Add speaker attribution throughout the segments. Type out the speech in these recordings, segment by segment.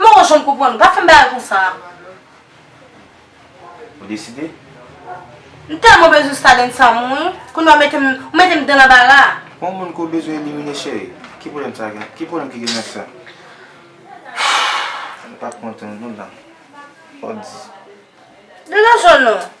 Speaker 1: Mwen wè
Speaker 2: jan w konprann ou. Pa fè m bagay konsa a.
Speaker 1: Ou deside? M
Speaker 2: tèlman bezwen Staden sa mwen wi. Kounya ou mete m, ou mete m dan lanbara a. Pou yon moun ke w bezwen
Speaker 1: elimine cheri, ki pwoblèm sa gen, ki pwoblèm ki gen nan sa? M pa kontan non dan. Fò w di.
Speaker 2: Degaje w non.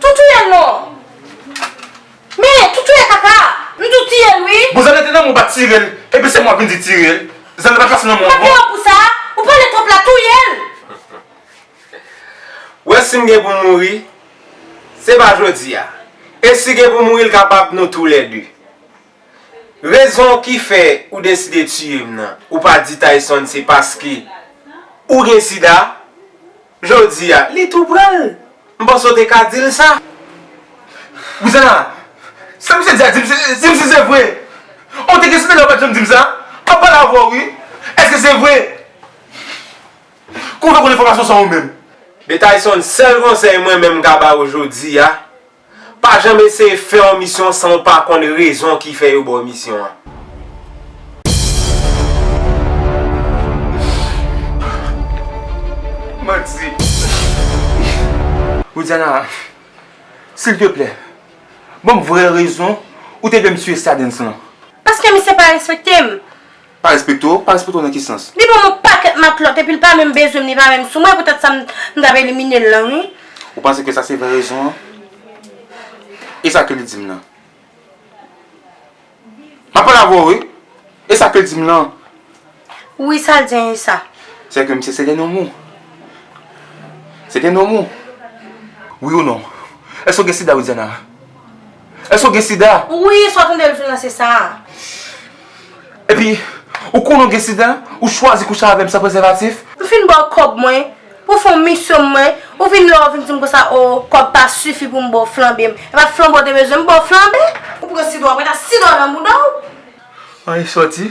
Speaker 2: Tou touyel non Men tou touye kaka Nou tou tiyel wi. Bon zannette nan mwen pa tirel
Speaker 3: epi se mwen wap vin di tirel zannette pa pase nan mwen ankò. Papillon pou sa
Speaker 2: ou pale trop la touyel.
Speaker 3: Wè sim gen pou mouri se pa jodi a e si gen pou mouri l kapab nou tou lè 2 rezon ki fè ou deside tiyem nan ou pa di tayson se paske ou gen sida. Jodi a, li tou pran l. M panse w te ka di l sa. Rouzana, Sa misye di a, di m si se vre. Ou te gen site lè ou pa t janm di m sa. M ap pale avè w wi. Èske se vre? Kouman w fè konnen enfòmasyon sa ou menm? Betayson, Sèl konsèy mwen menm m ka ba ou jodi a, Pa janm eseye fè yon misyon san ou pa konn rezon ki fè yo ba w misyon an. Manti. Widiana, silteplè, ban m vrè rezon ou te vle m siye Stardens lan. Paske misye pa
Speaker 2: respekte m. Pa respekte
Speaker 3: w, pa respekte w nan ki sans? Li banm yon pakèt matlòt
Speaker 2: epi li pa menm bezwen m li pa menm sou mwen e poutèt sa m tap elimine l lan wi. Ou panse ke sa se vrè
Speaker 3: rezon an? E sa ke li di m lan? Map pale avè w wi! E sa ke l di m lan? Wi
Speaker 2: sa l di an e sa? Se ke misye se gen
Speaker 3: nonm ou? Se gen nonm ou? Wi ou non? Èske w gen sida Widiana? Èske ou gen sida? Wi, sa w tande l di w
Speaker 2: la se sa a.
Speaker 3: Epi, ou konnen ou gen sida, ou chwazi kouche avè m san prezèvatif? M fin ba w kòb
Speaker 2: mwen pou w fè yon misyon m mwen, ou vin la ou vin di m konsa o kòb pa sifi pou m ba w flanbe m. Epa flanbe w te bezwen m ba w flanbe? Ou pran sida w mete sida w nan bouda w. An e
Speaker 3: sòti.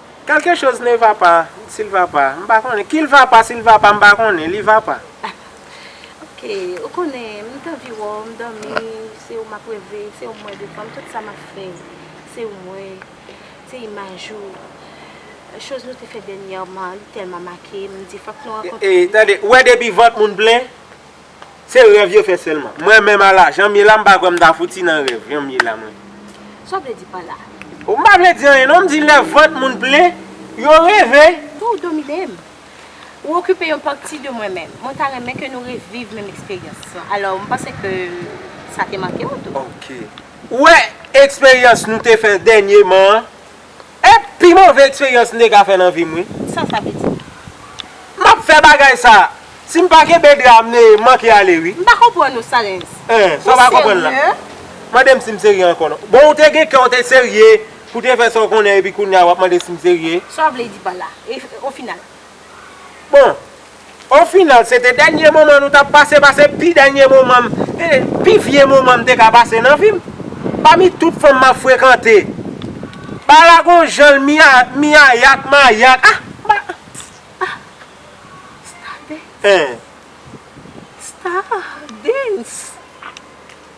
Speaker 3: Quelque chose ne va pas, s'il va pas, m pa konnen, qu'il va pas, s'il va pas, m pa konnen, li va pa. Ok,
Speaker 2: ou konnen, m t anvi wè w, m dòmi, se ou m ap reve, se ou m wè devan m, tout sa m ap fè, se ou m wè, se imaj ou, chose nou te fè dènyèman, li tèlman make m, m di fòk nou rankontre. Tande, ou wè depi
Speaker 3: vant moun plen? Se rèv yo fè sèlman. Mwen menm a la, janm ye la m pa kwè m ta fouti nan rèv, janm ye la mwen. Sa w vle di pa
Speaker 2: la? O m pa vle di
Speaker 3: anyen non, m di lè vant moun plen, yo reve. Fò w domine m.
Speaker 2: Ou okipe yon pati de mwen menm. Mwen ta renmen ke nou reviv menm eksperyans lan. Alò, m panse ke sa te manke w tou. Ok. Ou
Speaker 3: wè eksperyans nou te fè dènyeman an? E pi move eksperyans m te ka fè nan vi m wi. Sa sa vle di?
Speaker 2: M ap
Speaker 3: fè bagay sa. Si m pa kenbe dra a m manke ale wi. M pa konprann ou
Speaker 2: Salens. Hein, sa w pa
Speaker 3: konprann la. Ou serye? Mande m si m serye ankò non. Bon ou te gen kè ou te serye pou te fè sa w konnen epi kounya w ap mande si m serye? Sa w vle di pa la?
Speaker 2: E o final? Bon,
Speaker 3: o final se te dènye moman nou t ap pase, pase pi dènye moman m, pi vye moman m te ka pase nan vi m. Pami tout fanm m ap frekante, Bala gon jan l miyayak, mayak, ah, ba, sta, sta dance, sta dance.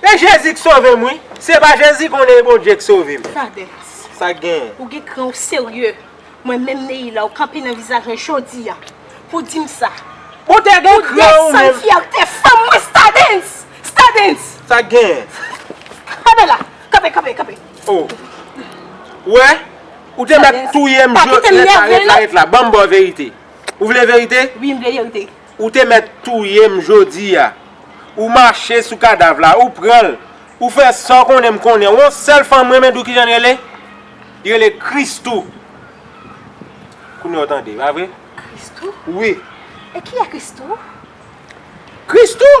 Speaker 3: E jezi k sovem wi. Se pa jezi konnen e bondye k sovem. Cadet. Sak
Speaker 2: genyen. Ou
Speaker 3: gen kran ou serye.
Speaker 2: Mwen menm Neïla ou kanpe nan vizaj mwen jodia pou dim sa. Ou te gen
Speaker 3: kran ou menm. Ou desann
Speaker 2: fyète
Speaker 3: fanm mwen
Speaker 2: stadens. Stadens. Sak genyen.
Speaker 3: Kanpe
Speaker 2: la. Kanpe kanpe kanpe. Oh.
Speaker 3: Ou wè. Ou te mèt touyem jodi. Ret la ret la ret la.
Speaker 2: Banm baw verite.
Speaker 3: Ou vle verite? Wi m vle verite.
Speaker 2: Ou te mèt
Speaker 3: touye m jodi a. Ou mache sou kadav la, ou pran l. Ou fè sa w konnen m konnen w. On sèl fanm m renmen di w ki jan l rele? Li rele Christoo. Kounye a w tande, pa vre? Christoo? Wi. E ki a
Speaker 2: Christoo? Christoo?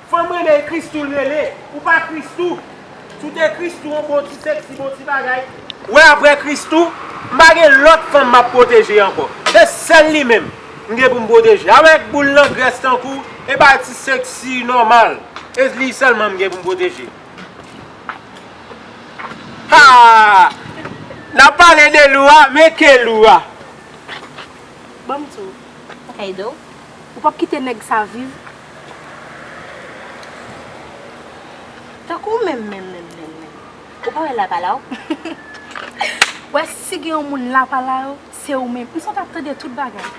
Speaker 3: Fanm renmen christoo l rele. Ou pa christoo. Si w te christoo on bon ti sexy bon ti bagay. Wè aprè christoo m pa gen lòt fanm map pwoteje ankò se sèl li menm m gen pou m pwoteje avèk boul nan grès tankou w e bay ti sexy nòmal e li sèlman m gen pou m pwoteje haa nap pale de lou a men ke lou a.
Speaker 2: Banm di w. Kaydo. Ou pap kite nèg sa viv. Tankou ou menm menm menm menm menm. Ou pa wè lapala w? Ou wè si gen yon moun lapala yo, se ou menm. Kousa w t ap tande tout bagay.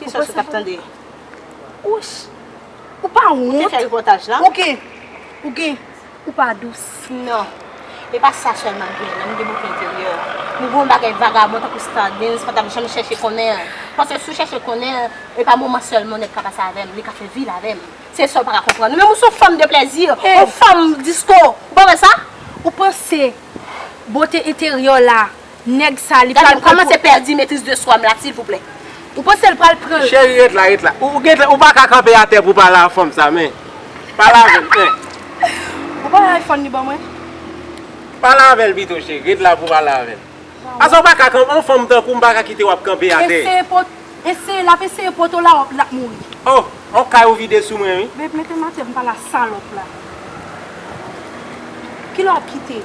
Speaker 2: Ki sòs ou t ap tande? Ouch! Ou pa wont? Ou te fè repòtaj la? Ou gen. Ou gen. Ou pa dous nan. E pa sa selman nou gen nan, nou gen bote enteryè. Nou gen yon bagay vagabon tankou Stardens pa tap janm chèche konnen an. Paske si w chèche konnen an, e pa moman selman yon nèg ka pase avè m, li ka fè vi l avè m. Se sa w pa ka konprann. Ou menm ou se yon fanm de plèzi, yon fanm disko. Ou pa wè sa? Ou panse bote enteryè w la nèg sa li pral kòmanse pèdi metriz de swam la silvouplè ou pansel pral pranl. Cheri ret la ret la ou
Speaker 3: gentan ou paka kanpe atè pou pale a fanm sa men pale avèl men. Ou
Speaker 2: pa wè iphone li ban mwen. Pale
Speaker 3: avèl pito cheri ret la pou pale avèl paske ou paka kanpe yon fanm tankoum paka kitew ap kanpe atè. Eseye po eseye lap
Speaker 2: eseye poto la wòp lap mouri. Oh on kay
Speaker 3: ou vide sou mwen wi. Babe metem atè poum pale a
Speaker 2: salòp la kilè wap kite.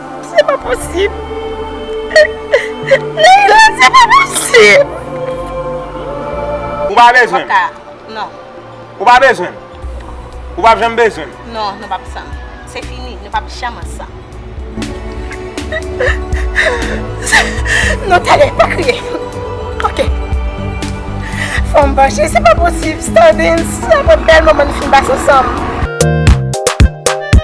Speaker 2: Se pa posib. Leila se pa posib.
Speaker 3: Ou pa bezwen m. Non.
Speaker 2: Ou pa
Speaker 3: bezwen m. Ou pa janm bezwen m. Non, nou pap ansanm.
Speaker 2: Se fini, nou pap janm ansanm. Non tande, pa kriye. Ok. Fò m panche, se pa posib. Standens, se pa bèl moman nou fin pase ansanm.